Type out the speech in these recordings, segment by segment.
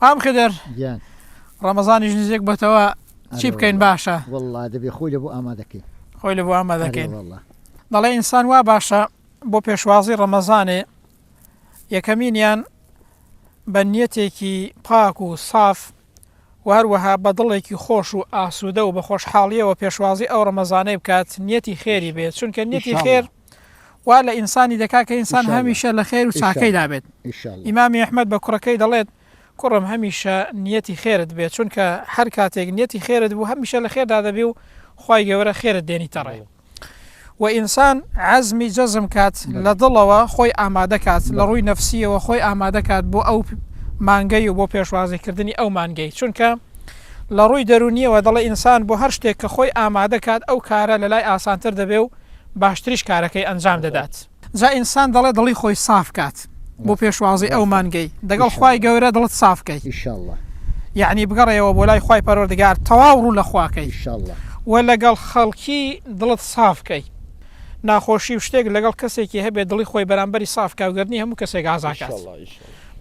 مام خدر گیان ڕەمەزانیش نزیک بۆتەوە چی بکەین باشە؟ وەڵڵا دەبێ خۆی لەبۆ ئامادەکەین خۆی لەبۆ ئامادەکەین وەڵڵا دەڵێ ئینسان وا باشە بۆ پێشوازی ڕەمەزانێ یەکەمینیان بە نیەتێکی پاک و ساف و هەروەها بە دڵێکی خۆش و ئاسوودە و بە خۆشحاڵیەوە پێشوازی ئەو ڕەمەزانەی بکات نیەتی خێری بێت چونکە نیەتی خێر وا لە ئینسانی دەکات کە ئینسان هەمیشە لە خێر و چاکەیدا بێت. ئیمامی ئەحمەد بە کوڕەکەی دەڵێت، کوڕم هەمیشە نیەتی خێرت بێت، چونکە هەر کاتێک نیەتی خێرت بوو هەمیشە لە خێردا دەبی و خوای گەورە خێرت دێنیتە ڕێ. و ئینسان عەزمی جەزم کات لە دڵەوە خۆی ئامادە کات لە ڕووی نەفسیەوە خۆی ئامادە کات بۆ ئەو مانگەی و بۆ پێشوازیکردنی ئەو مانگەی چونکە لە ڕووی دەرونیەوە دەڵێ ئینسان بۆ هەر شتێک کە خۆی ئامادە کات ئەو کارە لە لای ئاسانتر دەبێ و باشتریش کارەکەی ئەنجام دەدات. جا ئینسان دەڵێ دڵی خۆی ساف کات بۆ پێشوازی ئەو مانگەی دەگەڵ خوای گەورە دڵت ساف کەی یەعنی بگەڕێیەوە بۆ لای خوای پەروەردگار تەواو ڕوو لە خوا کەی وە لەگەڵ خەڵکی دڵت ساف کەی ناخۆشی و شتێک لەگەڵ کەسێکی هەبێ دڵی خۆی بەرامبەری ساف کا گەر نی هەموو کەسێک ئازا کات.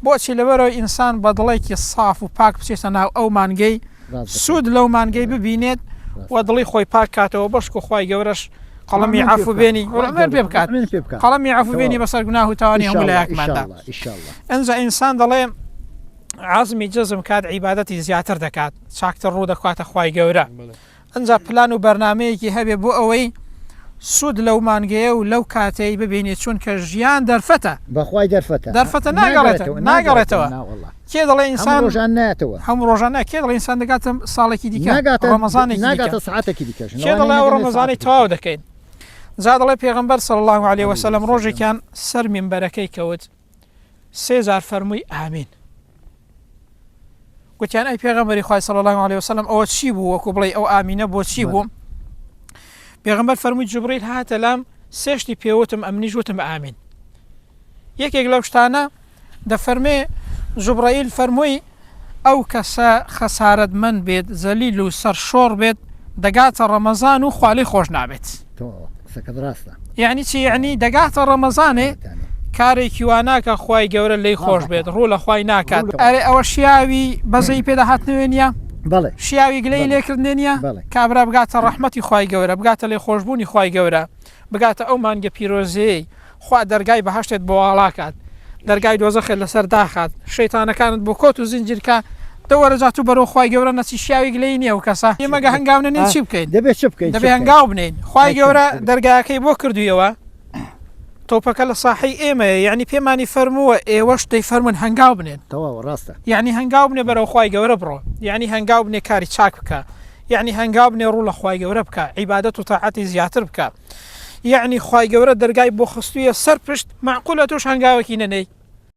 بۆچی؟ لەبەرئەوەی ئینسان بە دڵێکی ساف و پاک بچێتە ناو ئەو مانگەی سوود لەو مانگەی ببینێت و دڵی خۆی پاک کاتەوە بەشکو خوای گەورەش قەڵەمی عەفو بێنی عومر پێ بکات قەڵەمی عەفو بێنی بەسەر گوناه و تاوانی هەموو لایەکماندا ئەنجا ئینسان دەڵێ عزمی جزم کات عیبادەتی زیاتر دەکات چاکتر ڕوو دەکاتە خوای گەورە ئنجا پلان و بەرنامەیەکی هەبێ بۆ ئەوەی سوود لەو مانگەیە و لەو کاتەی ببینێ چوونکە ژیان دەرفەتە. بەخوای دەرفەتە. دەرفەتە ناگەڕێتەوە ناگەڕێتەوە ناوەڵا کێ دەڵێ ئینسان هەموو ڕۆژان نایەتەوە هەموو ڕۆژان نا کێ دەڵێ ئینسان دەگاتە ساڵێکی دیکە ناگاتە ڕەمەزانێکی دیکە ناگاتە سەعاتێکی دیکە کێ ژنەوە دەڵێ ئەو ڕەمەزانەی تەواو دەکەین جا دەڵێ پێغەمبەر صلی اللە علیە وسلم ڕۆژێکیان سەر مینبەرەکەی کەوت سێ جار فەرمووی ئامین. گوتیان ئەی پێغەمبەری خوای صلی الله علیه وسلم ئەوە چی بوو وەکو بڵێ ئەو ئامینە بۆ چی بوو پێغەمبەر فەرمووی جبریل هاتە لام سێشتی پێوتم ئەمنیش وتم ئامین یەکێک لەو شتانە دەفەرمێ جبرائیل فەرمووی ئەو کەسە خەسارەتمەند بێت، زەلیل و سەرشۆڕ بێت، دەگاتە ڕەمەزان و خوا لێی خۆش نابێت. تۆ قسەکەت ڕاستە. یەعنی چی یەعنی دەگاتە ڕەمەزانێ کارێکی وا ناکا خوای گەورە لێی خۆش بێت ڕوو لە خوای ناکات. ئەرێ ئەوە شیاوی بەزەیی پێدا هاتنەوێ نیە؟ بەڵێ. شیاوی گلەیی لێ کردنێ نیە؟ بەڵێ. کابرا بگاتە ڕەحمەتی خوای گەورە بگاتە لێخۆشبوونی خوای گەورە بگاتە ئەو مانگە پیرۆزەیەی. خوا دەرگای بەهەشتت بۆ واڵا کات دەرگای دۆزەخت لەسەر داخات شەیتانەکانت بۆ کۆت و زنجیر کا دە وەرە جا تو بەرەو خوای گەورە نەچی شیاویک لێی نیە ئەو کەسە ئێمە گە هەنگاو نەنێین چی بکەین دەبێ چ بکەین دەبێ هەنگاو بنێین خوای گەورە دەرگاکەی بۆ کردویەوە تۆپەکە لە ساحەی ئێمەیە یعنی پێمانی فەرمووە ئێوەش دەی فەرمون هەنگاو بنێن تەواو ڕاستە یعنی هەنگاو بنێ بەرەو خوای گەورە بڕۆ یعنی هەنگاو بنێ کاری چاک بکە یعنی هەنگاو بنێ ڕوو لە خوای گەورە بکە عیبادەت و تاعەتی زیاتر بکە یەعنی خوای گەورە دەرگای بۆ خستویە سەر پشت مەعقولە تۆش هەنگاوەکی نەنێی.